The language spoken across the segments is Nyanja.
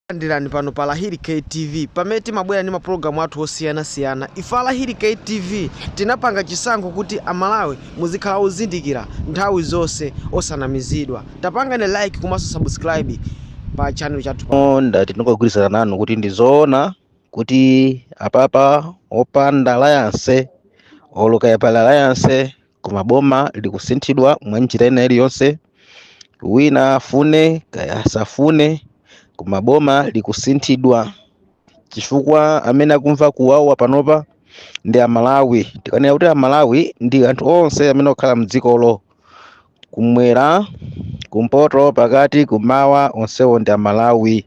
Takulandirani pano pa Lahiri K TV pamene timabwera ndi mapulogalamu athu osiyanasiyana. Ife a Lahiri K TV tinapanga chisankho kuti Amalawi muzikhala ozindikira nthawi zonse osanamizidwa. Tapangani like komanso subscribe pa channel chathu pa. Oh, ndati ndingogwirizana nanu kuti ndi zoona kuti apapa opanda alliance olo kaya pali alliance koma boma likusinthidwa mwa njira ina iliyonse wina afune kaya asafune koma boma likusinthidwa chifukwa amene akumva kuwawa panopa ndi amalawi tikanena kuti amalawi ndi anthu onse amene okhala mdzikolo kumwera kumpoto pakati kumawa onsewo ndi amalawi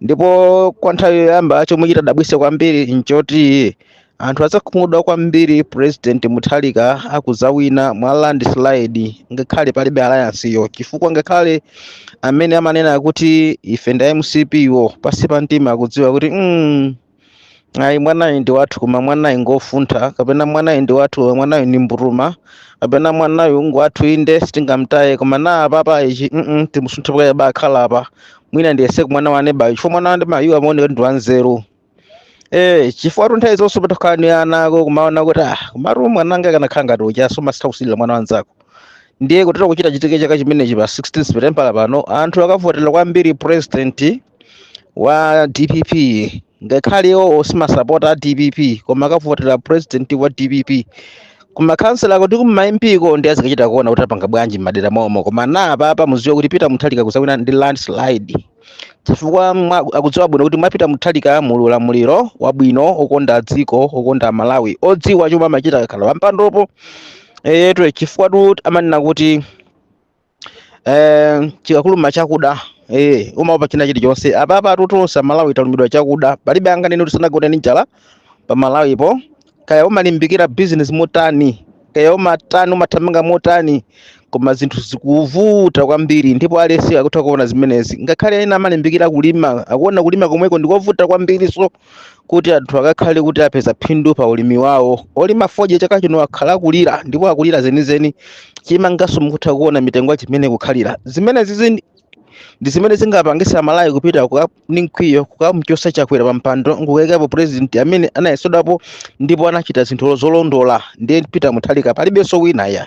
ndipo kwa nthawi yoyamba chomwe chitadabwitse kwambiri nchoti anthu adzakhumudwa kwambiri president mutharika akudzawina mwa landslide ngakhale palibe alliance yo chifukwa ngakhale amene amanena kuti ife nda mcp wo pansi pa mtima akudziwa kuti mm, ayi mwanayu ndi wathu koma mwanayu ngofuntha kapena mwanayu ndi wathu koma mwanayu ndi mburuma kapena mwanayu ngwathu inde sitingamtaye koma na apapa ichi mm timusunthe kaye abakhala apa mwina ndiyese kumwana wa neba yo chifukwa mwana wa neba yu amaoneka ndi wanzeru Eh, chifukwatu nthawi zonse patakhala ni ana ako kumaona kuti ah, komatu mwananga akanakhala ngati uja umasitha kusilira mwana wanzako ndiye kutereku chitachitike chaka chimenechi pa 16 september pano anthu akavotera kwambiri president wa dpp ngakhale iwo samasapota a dpp koma akavotera president wa dpp kumakhansala uko kuma MP ko nde azikachita kuona kuti apanga bwanji m'madera mwaomo koma na apapa muziwe kuti peter mutharika akuzawina ndi landslide chifukwa mwa- akudziwa bwino kuti mwa peter mutharika muli ulamuliro wabwino okonda dziko okonda malawi odziwa chomwe amachita akakhala pampandopo eyetu chifukwatu amanena kuti eh, chikakuluma chakuda eh, umaopa china chilichonse apapatu tonse amalawi talumidwa chakuda palibe anganene kuti sanagone ndi njala pamalawipo kaya umalimbikira bizinesi motani kaya umatani umathamanga motani koma zinthu zikuvuta kwambiri ndipo aliyense akutha kuona zimenezi ngakhale ena amalimbikira kulima akuona kulima komweko ndikovuta kwambirinso kuti anthu akakhale kuti apeza phindu pa ulimi wawo olima fodya chaka chino akhala akulira ndipo akulira zenizeni chimanganso mukutha kuona mitengo yake mmene ikukhalira zimenezi zin- ndi zimene zingapangitse amalawi kupita kuka- ni mkwiyo kukamchotsa chakwera pa mpando nkukayikapo president amene anayesedwapo ndipo anachita zinthu zolondola ndiye peter mutharika palibenso wina ayi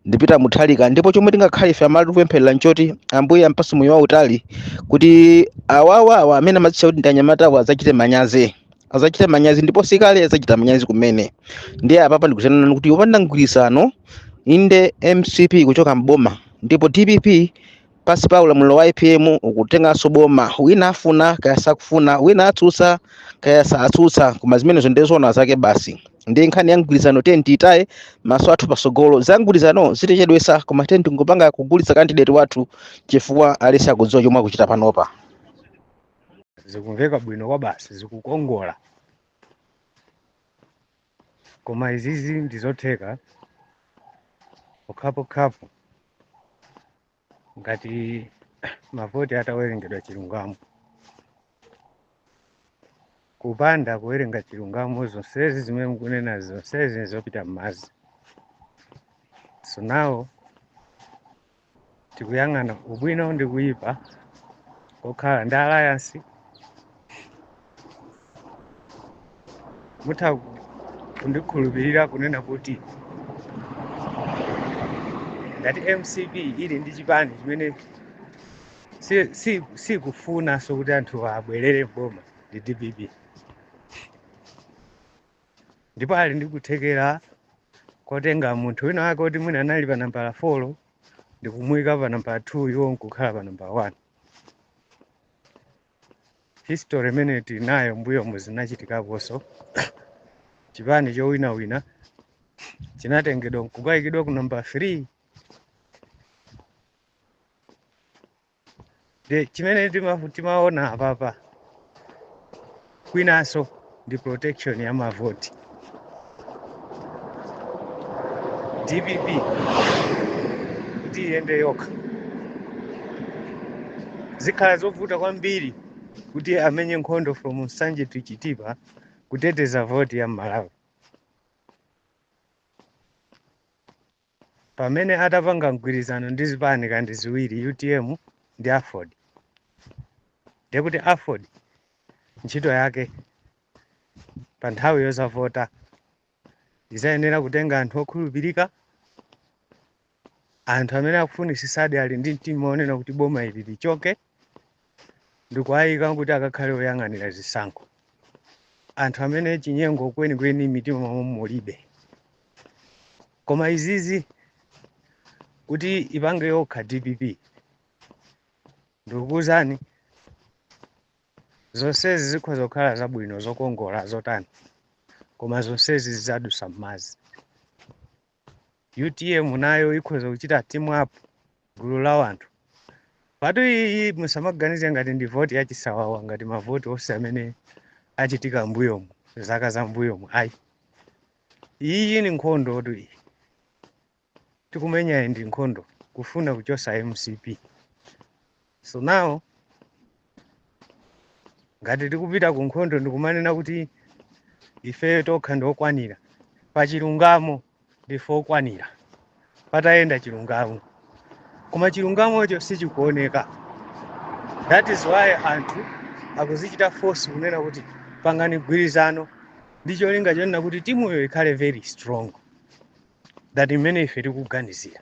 ndi peter mutharika ndipo chomwe tingakhale ife amalawi kupempherera nchoti ambuye ampatse moyo wautali kuti awawawa amene amadzitcha kuti ndi anyamatawo adzachite manyazi adzachite manyazi ndipo sikale adzachita manyazi kumene ndiye apapa ndikutha kunena kuti opanda mgwirizano inde mcp ikuchoka mboma ndipo dpp pasi pa ulamuliro wa apm ukutenganso boma wina afuna kaya sakufuna wina atsutsa kaya satsutsa koma zimenezo ndiye zoona zake basi ndiye nkhani ya mgwirizano tiye tiitaye maso athu pasogolo za mgwirizano zitichedwesa koma tiye tingopanga kugulitsa kandideti wathu chifukwa aliyense akudziwa chomwe akuchita panopa zikumveka bwino kwa basi zikukongola Koma izizi ndi zotheka pokhapokhapo ngati mavoti atawerengedwa chilungamo. Kupanda kuwerenga chilungamo, zonsezi zimene mukunena zonsezi zopita m'madzi. So now tikuyang'ana ubwino ndi kuyipa kokhala ndi alliance mutha kundikhulupirira kunena kuti ngati mcp ili ndi chipani chimene si- si- sikufunanso kuti anthu abwerere m'boma ndi dpp ndipo ali ndi kuthekera kotenga munthu wina wake oti mwina anali pa nambala 4 ndikumuyika pa nambala 2 iwo nkukhala pa nambala 1 history imene tinayo m'mbuyomu zinachitikaponso chipani chowinawina chinatengedwa nkukayikidwa ku nambala 3 the chimene ndima- timaona apapa kwinanso ndi protection ya mavoti dpp kuti iyende yokha zikhala zovuta kwambiri kuti amenye nkhondo from nsanje to chitipa kuteteza voti ya mmalawi pamene atapanga mgwirizano ndi zipani ngati ziwiri utm ndi aford ndiye kuti aford ntchito yake pa nthawi yozavota izayenera kutenga anthu okhulupirika anthu amene akufunisisadi ali ndi mtima onena kuti boma ili lichoke ndikuwayika kuti akakhale oyang'anira zisankho anthu amene chinyengo kwenikweni m'mitima mwawo mulibe koma izizi kuti ipange yokha dpp ndikukuwuzani zonsezi zikhoza kukhala zabwino zokongola zotani koma zonsezi zizadusa m'madzi utm nayo ikhoza kuchita team up gulu la wanthu pajatu iyi musamaganize ngati ndi voti ya chisawawa ngati mavoti onse amene achitika mbuyomu zaka za mbuyomu ayi iyi ni nkhondotu iyi tikumenyayi ndi nkhondo kufuna kuchosa mcp so now ngati tikupita ku nkhondo ndikumanena kuti ife tokha ndi okwanira pa chilungamo ndife okwanira patayenda chilungamo koma chilungamocho sichikuoneka that is why anthu akuzichita force kunena kuti pangani gwirizano ndi cholinga chonena kuti timuyo ikhale very strong that mmene ife tikuganizira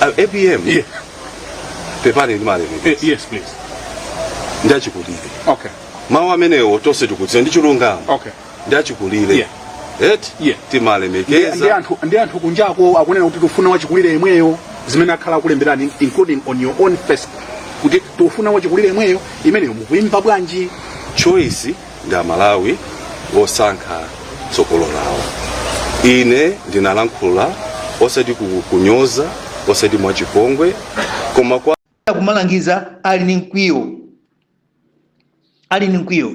Uh, apm Yeah. pepani ndimalemekeza Yes, please. ndi achikulire Okay. mawu amenewo tonse tikudziwa ndi chilungamo Okay. ndi achikulire Yeah. eti Yeah. timalemekeza ndi anthu kunjako akunena kuti tufuna wachikulire yemweyo zimene akhala akulemberani including on your own Facebook kuti tufuna wachikulire yemweyo imeneyo mukuimva bwanji choice ndi amalawi osankha tsogolo lawo ine ndinalankhula osati kukunyoza osati mwachipongwe koma kwa kumalangiza ali ni mkwiyo ali ni mkwiyo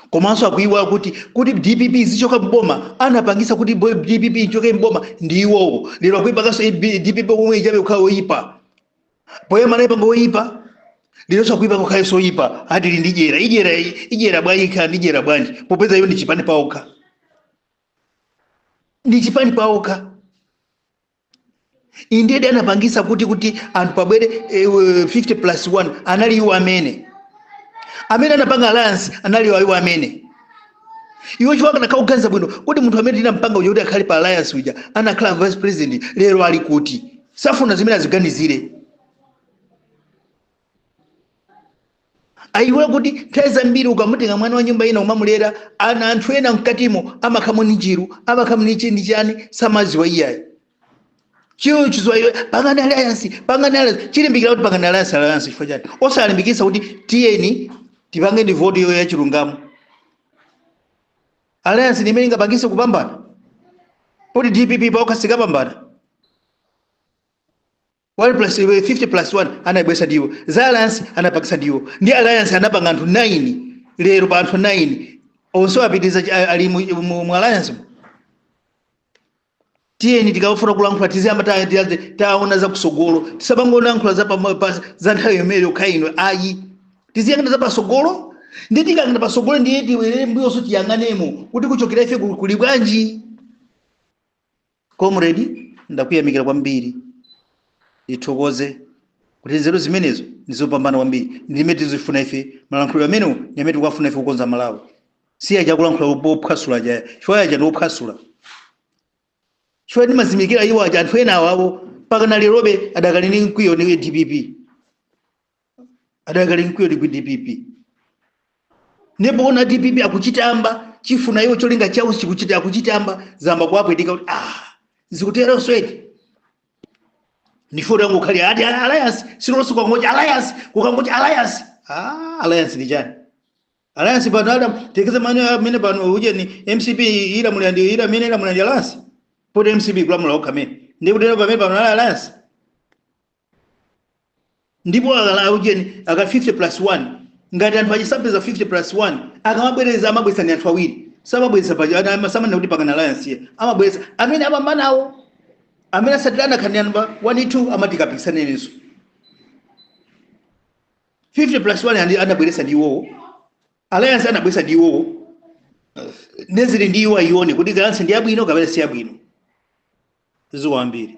komanso akuiwala kuti kuti dpp ichoke mboma anapangisa kuti bo- dpp ichoke mboma ndi iwowo lero akuipanganso dpp yomweyo pabe kukhala oyipa poyamba anayipanga woyipa lero sakuyipa kukhala soyipa ati ili ndi dyera dyera dyera bwanji ikhala ndi dyera bwanji popeza iyo ndi chipani paokha ndi chipani paokha indedi anapangisa kuti kuti anthu pabwere eh, eh, 50 plus 1 anali iwo amene amene anapanga alliance anali iwo amene iwo akanakhala kuganiza bwino kuti munthu amene tinampanga uja kuti akhale pa alliance uja anakhala vice president lero ali kuti safuna zimene aziganizire ayiwala kuti nthawi zambiri ukamutenga mwana wa nyumba ina umamulera ana anthu ena mkatimo amakhala ni njiru amakhala ni chini chani samaziwa iyayi chilo chizowa iwe pangani alliance pangani alliance chilimbikira kuti pangani alliance alliance chifukwa chani osalimbikitsa kuti tiyeni tipange ndi voti iyoyo yachilungamo alliance ndi imene ingapangise kupambana poti dpp paokha singapambane 1 plus i- 50 plus 1 anayibwesa ndiwo za alliance anapangisa ndiwo ndi alliance anapanga anthu 9 lero pa anthu 9 onse apitiriza chi- a- ali mu- mu mu alliance mu. tiyeni tikafuna kulankhula tiziyamba ta- ta- taona za kusogolo tisabangolankhula za pamo- pa- za nthawi yomweyo yokha ino ayi tiziyang'ana za pasogolo ndi tikayang'ana pasogolo ndiye tiwerere mbuyonso tiyang'anemo kuti kuchokera ife ku- kuli bwanji Comrade, ndakuyamikira kwambiri, ndithokoze kuti nzeru zimenezo ndizopambana kwambiri, ndimene tikuzifuna ife, malankhulidwe amenewo ndimene tikuwafuna ife kukonza Malawi, si aja akulankhula ophwasula aja, chifukwa aja ndi ophwasula, chifukwa ndimazimikira iwo aja, anthu ena awo awo mpaka na lerobe adakali ndi mkwiyo ni DPP. adakali mkwiyo ndi dpp ndipo onawa dpp akuchitamba chifuna iwo cholinga chawo chikuchita akuchitamba zamba kuwapwetika kuti ah zikuteronso eti ndikufuna tangokhala ati alliance tsiku lonse kukangocha alliance kukangocha alliance ah alliance ndi chiyani alliance pano adayendetsa mano amene pano ujeni mcp ilamulira ndi ila amene ilamulira ndi alliance poti mcp sikulamula yokha amene ndikutero pamene pano ali alliance ndipo akakhala aujeni aka 50 plus 1 ngati anthu asampeza 50 plus 1 akamabwereza amabwesa ni anthu awiri samabwesa pa ana- ama- samanena kuti pangana alliance ayi amabwesa amene apambanawo amene asatirana kaya nambala 1 2 amati kapikisanenenso 50 plus 1 andi- anabweresa ndi iwowo alliance anabwesa ndi iwowo nde zili ndi iwo ayione kuti alliance ndi yabwino kapena si yabwino ziwambiri